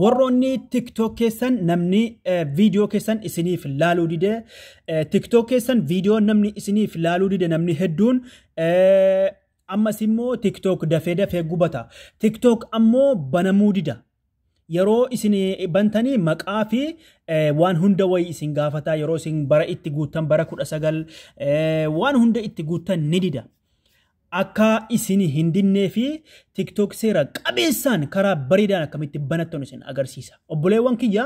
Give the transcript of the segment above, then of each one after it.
warroonni tiktok keessan namni viidiyoo keessan isiniif laaluu dide tiktok keessan viidiyoo namni isiniif laaluu dide namni hedduun ammas immoo tiktok dafee dafee gubata tiktok ammoo banamuu dida yeroo isin bantanii maqaa fi waan hunda wayii isin gaafata yeroo isin bara itti guuttan bara kudha sagal waan hunda itti guuttan ni dida Akka isin hin dinnee fi TikTok seera qabeessaan karaa bareedaan akkamitti banattan isin agarsiisa. Obboleewwan kiyya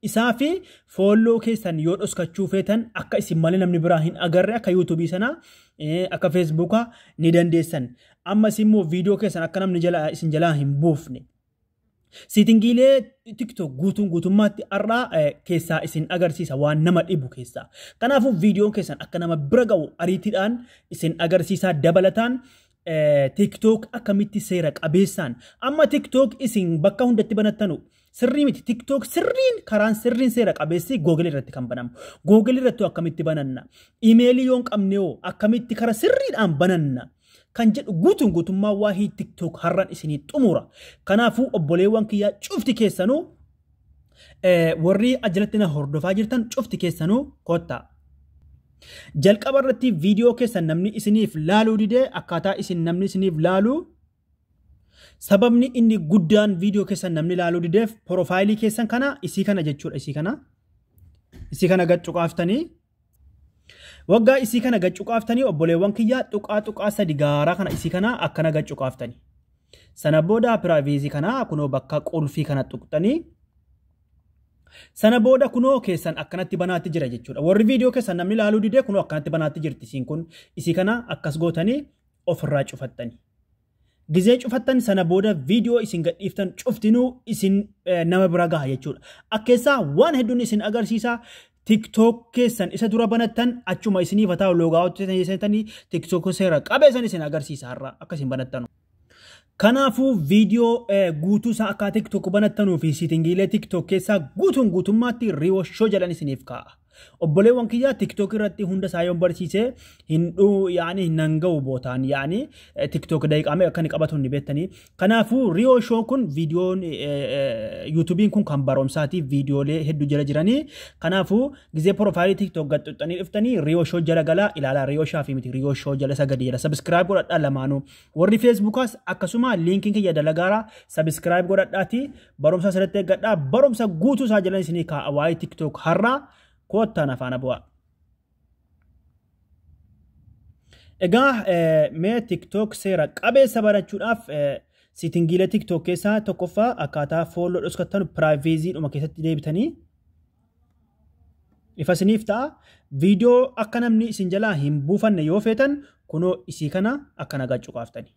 isaa fi foolloo keessan yoo dhoskachuu feetan akka isin malee namni biraa hin agarre akka yuutuubii sana akka feesbuukaa ni dandeessan. Ammas immoo viidiyoo keessan akka namni isin jalaa hin buufne. Siitingiilee TikTok guutuun guutummaatti har'aa eh, keessaa isin agarsiisa waan nama dhibu keessaa. Kanaafuu viidiyoon keessan akka nama bira ga'u ariitiidhaan isin agarsiisaa dabalataan eh, TikTok akkamitti seera qabeessaan. Amma TikTok isin bakka hundatti banattanu sirrii miti. TikTok sirriin karaan sirriin seera qabeessi Google irratti kan banamu. Google irratti akkamitti bananna? Imeelii yoon qabne hoo akkamitti kara sirriidhaan bananna? kan jedhu guutuun guutummaa waahii tiktok har'an isinii xumura kanaafuu obboleewwan kiyyaa cufti keessanuu eh, warri ajalatti na hordofaa jirtan cufti keessanuu kottaa jalqaba irratti viidiyoo keessan namni isiniif laaluu didee akkaataa isin namni isiniif laaluu sababni inni guddaan viidiyoo keessan namni laaluu dideef porofaayilii keessan kana isii kana jechuudha isii kana isii kana gad cuqaaftanii Waggaa isii kana gad cuqaaftanii obboleewwan kiyyaa tuqaa tuqaa sadi gaaraa kana isii kana akkana gad cuqaaftanii. Sana booda piraayiveezii kana kunoo bakka qulfii kana tuqxanii sana booda kunoo keessan akkanatti banaatti jira jechuudha. Warri viidiyoo keessan namni ilaaluu didee kunoo akkanatti banaatti jirti isiin kun isii kana akkas gootanii ofirraa cufattanii. Gizee cufattan sana booda viidiyoo isin gadhiiftan cuftinuu isin eh, nama bira gaha jechuudha. Akkeessaa waan hedduun isin agarsiisa. TikTok keessan isa dura banattan achuma isiniif haa ta'u loogaa hojjetanii seentanii TikTok seera qabeessan isin agarsiisa har'a akka isin banattanu. Kanaafuu viidiyoo eh, guutuu isaa akka TikTok banattanuu fi siitingiilee TikTok keessaa guutuun guutummaatti riiwashoo jedhan isiniif kaa'a. Obboleewwan kiyyaa TikTok irratti hunda isaa yoon barsiise hin dhuu yaani hin hanga'u bootaan yaani TikTok daqiiqaa meeqa akka inni qabatu ni beektanii. Kanaafuu Riyoo Shoo kun viidiyoon yuutuubiin kun kan barumsaatiif viidiyoolee hedduu jala jiranii. Kanaafuu gizee piroofaayilii TikTok gad xuxxanii dhuftanii Riyoo Shoo jala galaa ilaalaa Riyoo Shaafi miti Riyoo Shoo jala isa gadi jala sabiskiraayib godhadhaa lamaanuu. Warri Feesbuukaas akkasuma liinkiin kiyya dalagaaraa sabiskiraayib godhadhaatii Barumsa asirratti eeggadhaa. Barumsa guutuu isaa jalan isinii kaa'a waa'ee TikTok har'aa koottaan afaana bu'aa. Egaa mee TikTok seera qabeessa barachuudhaaf siitingiilee TikTok keessaa tokkoffaa akkaataa fooloo dhoskattanu piraayiveezii dhuma keessatti deebitanii ifa isiniif ta'a. Viidiyoo akka namni isin jalaa hin buufanne yoo feetan kunoo isii kana akkana gacuqaaftanii.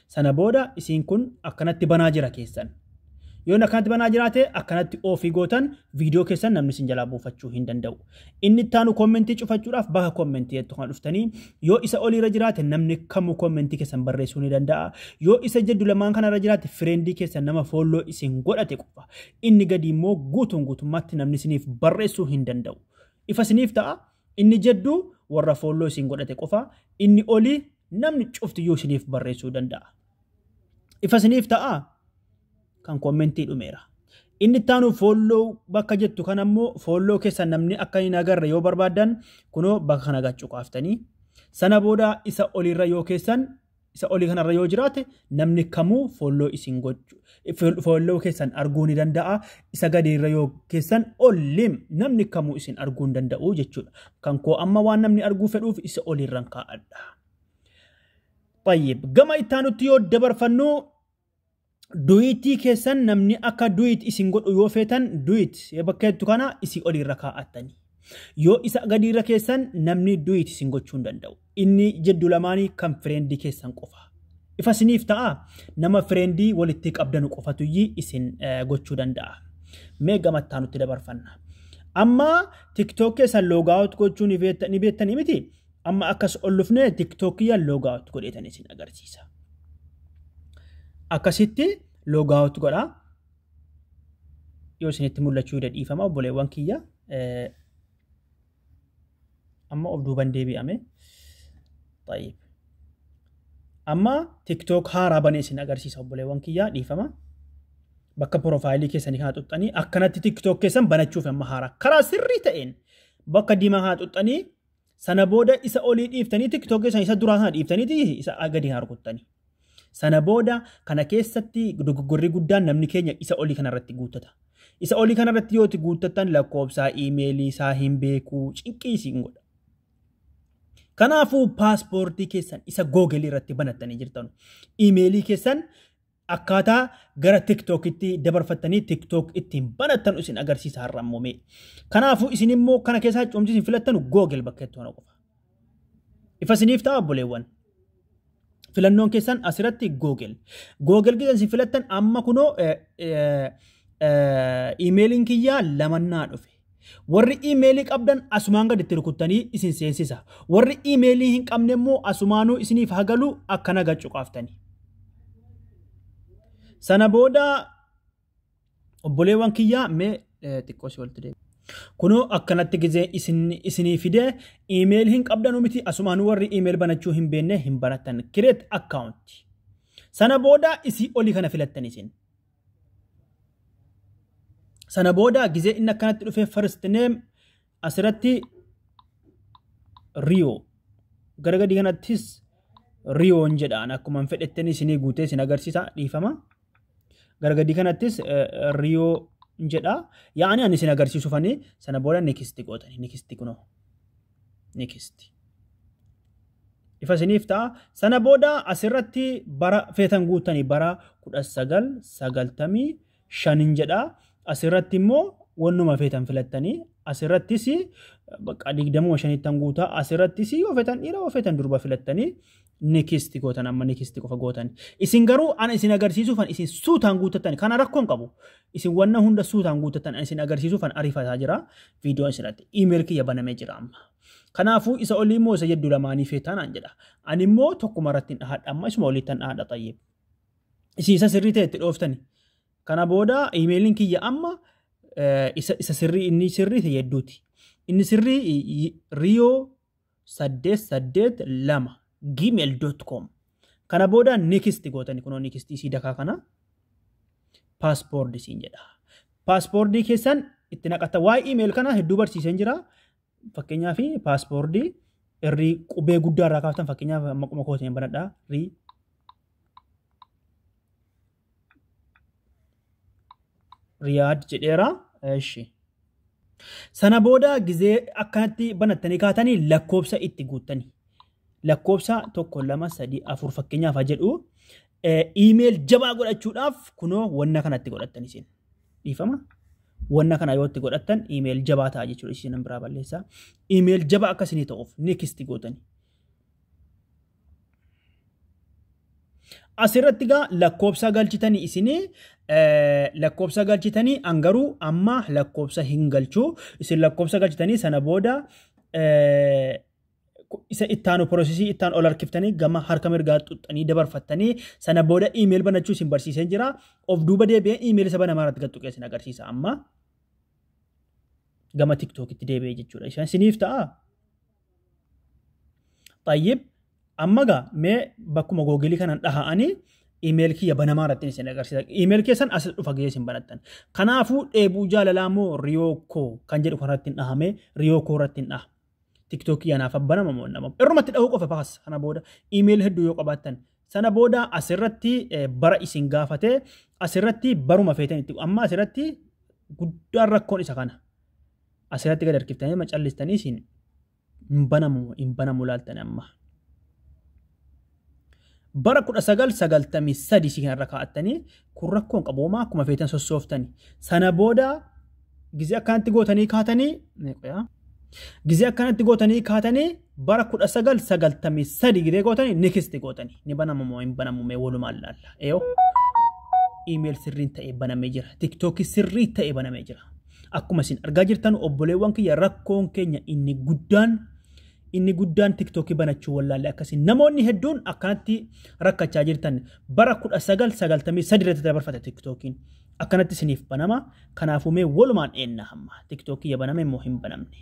Sana booda isiin kun akkanatti banaa jira keessan. Yoon akkanatti banaa jiraate akkanatti oofii gootan viidiyoo keessan namni isin jalaa buufachuu hin danda'u. Inni itti aanu kommentii cufachuudhaaf baha kommentii jettu kan dhuftanii yoo isa oliirra jiraate namni kamuu kommentii keessan barreessuu ni danda'a. Yoo isa jiddu lamaan kanarra jiraate fireendii keessan nama foolloo isin godhate qofa. Inni gadi immoo guutuun guutummaatti namni isiniif barreessuu hin danda'u. Ifa isiniif ta'a inni jiddu warra foolloo isin godhate qofa inni olii Namni cufti iyyuu isiniif barreessuu danda'a. Ifa isiniif ta'a kan kommentii dhumeera. Inni itti aanu foolloo bakka jettu kan ammoo foolloo keessa namni akka hin agarre yoo barbaaddan kunoo bakka kana gachuu qaaftanii. Sana booda isa oliirra yoo keessan isa olii kanarra yoo jiraate namni kamuu foolloo isin gochu Folloo keessan arguu ni danda'a. Isa gadi irra yoo keessan ollim namni kamuu isin arguu hin danda'u jechuudha. Kan koo amma waan namni arguu fedhuuf isa olirran kaa'adha. Tayyib gama ittaanutti yoo dabarfannu duyitii keessan namni akka duyit isin godhu yoo feetan duyit bakka jettu kana isin olirra kaa'attani. Yoo isa gadi irra keessan namni duyit isin gochuu hin danda'u. Inni jiddu lamaani kan fireendi keessan qofa. Ifa isiniif ta'a nama fireendii walitti qabdanu qofatuyyi isin gochuu danda'a. Mee gamattaa nutti dabarfanna. Amma TikTok keessan loogaawut gochuu ni beektanii miti? Amma akkas ol dhufnee TikTok kiyya loogaawut godheetan isin agarsiisa. Akkasitti loogaawut godha. Yoo isinitti mul'achuu dadhiifama obboleewwan kiyya. amma of duuban deebi'ame xayyib amma tiktok haaraa bane isin agarsiisa obboleewwan kiyyaa dhiifama bakka profaayilii keessanii kana xuxxanii akkanatti tiktok keessan banachuuf amma haaraa karaa sirrii ta'een bakka diimaa kana xuxxanii sana booda isa olii dhiiftanii tiktok keessan isa duraa sana dhiiftanii isa gadi kana rukuttanii Sana booda kana keessatti dogoggorri guddaan namni keenya isa olii kanarratti guuttata. Isa olii kanarratti yoo itti guuttattan lakkoofsaa iimeelii isaa hin beeku cinqii isin godha. Kanaafuu paaspoortii keessan isa googelii irratti banattanii jirtan iimeelii keessan akkaataa gara tiktookitti dabarfattanii tiktook ittiin banattan isin agarsiisa har'a immoo mee. Kanaafuu isin immoo kana keessaa cimsiisin filattanu googel bakka itti hona qofa. Ifa isiniif ta'a obboleewwan. Filannoon keessan asirratti Google. Google keessan isin filattan amma kunoo iimeeliin kiyyaa lamannaa dhufe. Warri iimeelii qabdan asumaan gaditti rukuttanii isin seensisa. Warri iimeelii hin qabne immoo asumaanuu isiniif hagalu akkana gacuqaaftanii. Sana booda obboleewwan kiyyaa mee eh, xiqqoo si walitti deebi. Kunoo akkanatti gizee isin isinii fide iimeeyil hin qabdanu miti asumaan warri iimeeyil banachuu hin beenne hin baratan kireet akkaawunti. Sana booda isii olii kana filattan isin. Sana booda gizee inni akkanatti dhufee first name Asirratti riyoo gara gadii kanattis riyoon jedhaan akkuma fedhetten isinii guutee isin agarsiisa dhiifama. Gara gadii kanattis riyoo jedha. Yaa'anii ani isin agarsiisufanii sana booda nikisti gootanii nikisti kunoo nikisti. Ifa isiniif ta'a. Sana booda asirratti bara feetan guuttanii bara kudha sagal sagaltamii shanin jedha asirratti immoo wannuma feetan filattanii asirrattis bakka digdamuma shanittan guutaa asirrattis yoo feetan dhiira yoo feetan durba filattanii nikisti gootan amma nikisti qofa gootan isin garuu ana isin agarsiisuufan isin suutaan guuttatan kana rakkoon qabu isin wanna hunda suutaan guuttatan isin agarsiisuufan ariifataa jira viidiyoon isinatti iimeer kiyya banamee jira amma kanaafuu isa olii immoo isa jeddu lamaanii feetaan aan jedha ani immoo tokkuma irratti hin dhahadha amma isuma oliittan dhahadha xayyib Isin isa sirrii ta'e itti dhooftani. Kana booda imeeliin kiyya amma eh, isa isa sirrii inni sirrii ta'e hedduuti. Inni sirrii i- i- riyoo saddeet saddeet lama gmail dot com. Kana booda nikist gootani kunoo nikist isii dakaa kana paaspoordi siin jedha. Paaspoordii keessan itti naqatta. Waa'ee imeeli kana hedduu barsiiseen jira. Fakkeenyaa fi paaspoortii irrii qubee guddaa irraa kaaftan fakkeenyaaf maquma kootiin banadhaa rii riyaad jedheera ishi sana booda gizee akkanatti banattanii kaatanii lakkoobsa itti guuttanii lakkoobsa tokko lama sadii afur fakkeenyaaf haa jedhu iimeel jabaa godhachuudhaaf kunoo wanna kanatti godhattanii seenaa. dhiifama wanna kana yoo itti godhattan email jabaa ta'a jechuudha isin biraa balleessaa email jabaa akka isinii ta'uuf next gootani asirratti gaa lakkoobsa galchitanii isinii lakkoobsa galchitanii an garuu amma lakkoobsa hin galchuu isin lakkoobsa galchitanii sana booda isa ittaanu porosesii ittaan ol harkiftanii gama harka mirgaa xuxxanii dabarfattanii sana booda iimeeli banachuu isin barsiiseen jira. Of duuba deebi'ee iimeeli isa banamaa irratti gattuqee isin agarsiisa amma gama tiktookitti deebi'ee jechuudha. Isaan isiniif ta'a. Xayyib amma gaa mee bakkuma googilii kanan dhaha'anii iimeeli kiyya banamaa irratti isin agarsiisa. Iimeeli keessan as dhufa gahee isin banattan. Kanaafuu dheebuu jaalalaa moo riyoo koo kan jedhu kanarratti hin dhahamee riyoo koo irratti hin dhaha. Tiktookii anaaf abbanama moo nama. Irrumatti dhahuu qofa baas kana booda iimeeyil hedduu yoo qabaattan. Sana booda asirratti eh, bara isin gaafate asirratti baruma feetan itti amma asirratti guddaan rakkoon isa kana. Asirratti gad harkiftanii macallistanii isin hin banamu hin banamu laaltan amma. Bara 1993 si kanarra kaa'attanii kun rakkoon qabu homaa akkuma feetan sossooftani. Sana booda gizee akkanatti gootanii kaatanii gizee akkanatti gootanii kaatanii bara 1993 gizee gootanii nikisti gootanii ni banamu moo hin banamu mee walumaan laalla. Eeyoo iimeel sirriin ta'ee banamee jira. Tiktookii sirrii ta'ee banamee jira. Akkuma isin argaa jirtan obboleewwan kiyya rakkoon keenya inni guddaan Inni guddaan TikTok banachuu wallaalle akkasiin namoonni hedduun akkanatti rakkachaa jirtan bara 1993 irratti dabarfate TikTokiin akkanatti isiniif banama kanaafuu mee walumaan eenna hamma TikTok ya baname immoo hin banamne.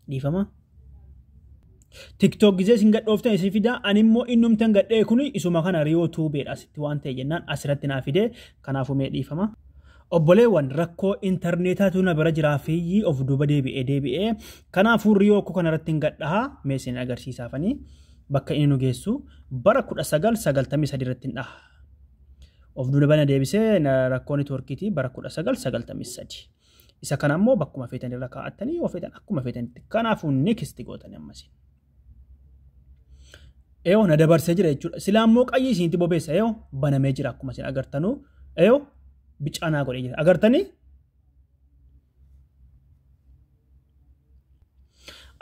Dhiifama. TikTok gizee isin gadhooftan isin fidaa ani immoo innumtan gadhee kun isuma kana riyoo tuubeedha asitti waan ta'e jennaan asirratti naa fidee kanaafuu mee dhiifama. Obboleewwan rakkoo intarneetaatu na bira jiraa fi of duuba deebi'ee deebi'ee kanaafuu riyoo koo kanarratti hin gadhaha mee isin agarsiisaafanii bakka inni nu geessu bara 1993 irratti hin dhaha. Of duuba na deebisee rakkoon networkiitii bara 1993. Isa kana immoo bakkuma feetan irra kaa'attanii yoo feetan akkuma feetanitti kanaafuu next gootanii ammasiin. Eyoo na dabarsee jira jechuudha. Silaa immoo qayyii isinitti bobeessa eyoo banamee jira akkuma isin agartanuu eyoo bicaa naa godhee jira. Agartanii?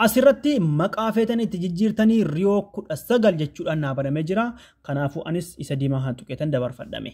Asirratti maqaa feetanii itti jijjiirtanii riyoo kudha sagal jechuudhaan naa banamee jira. Kanaafuu anis isa diimaa haa tuqeetan dabarfadhame.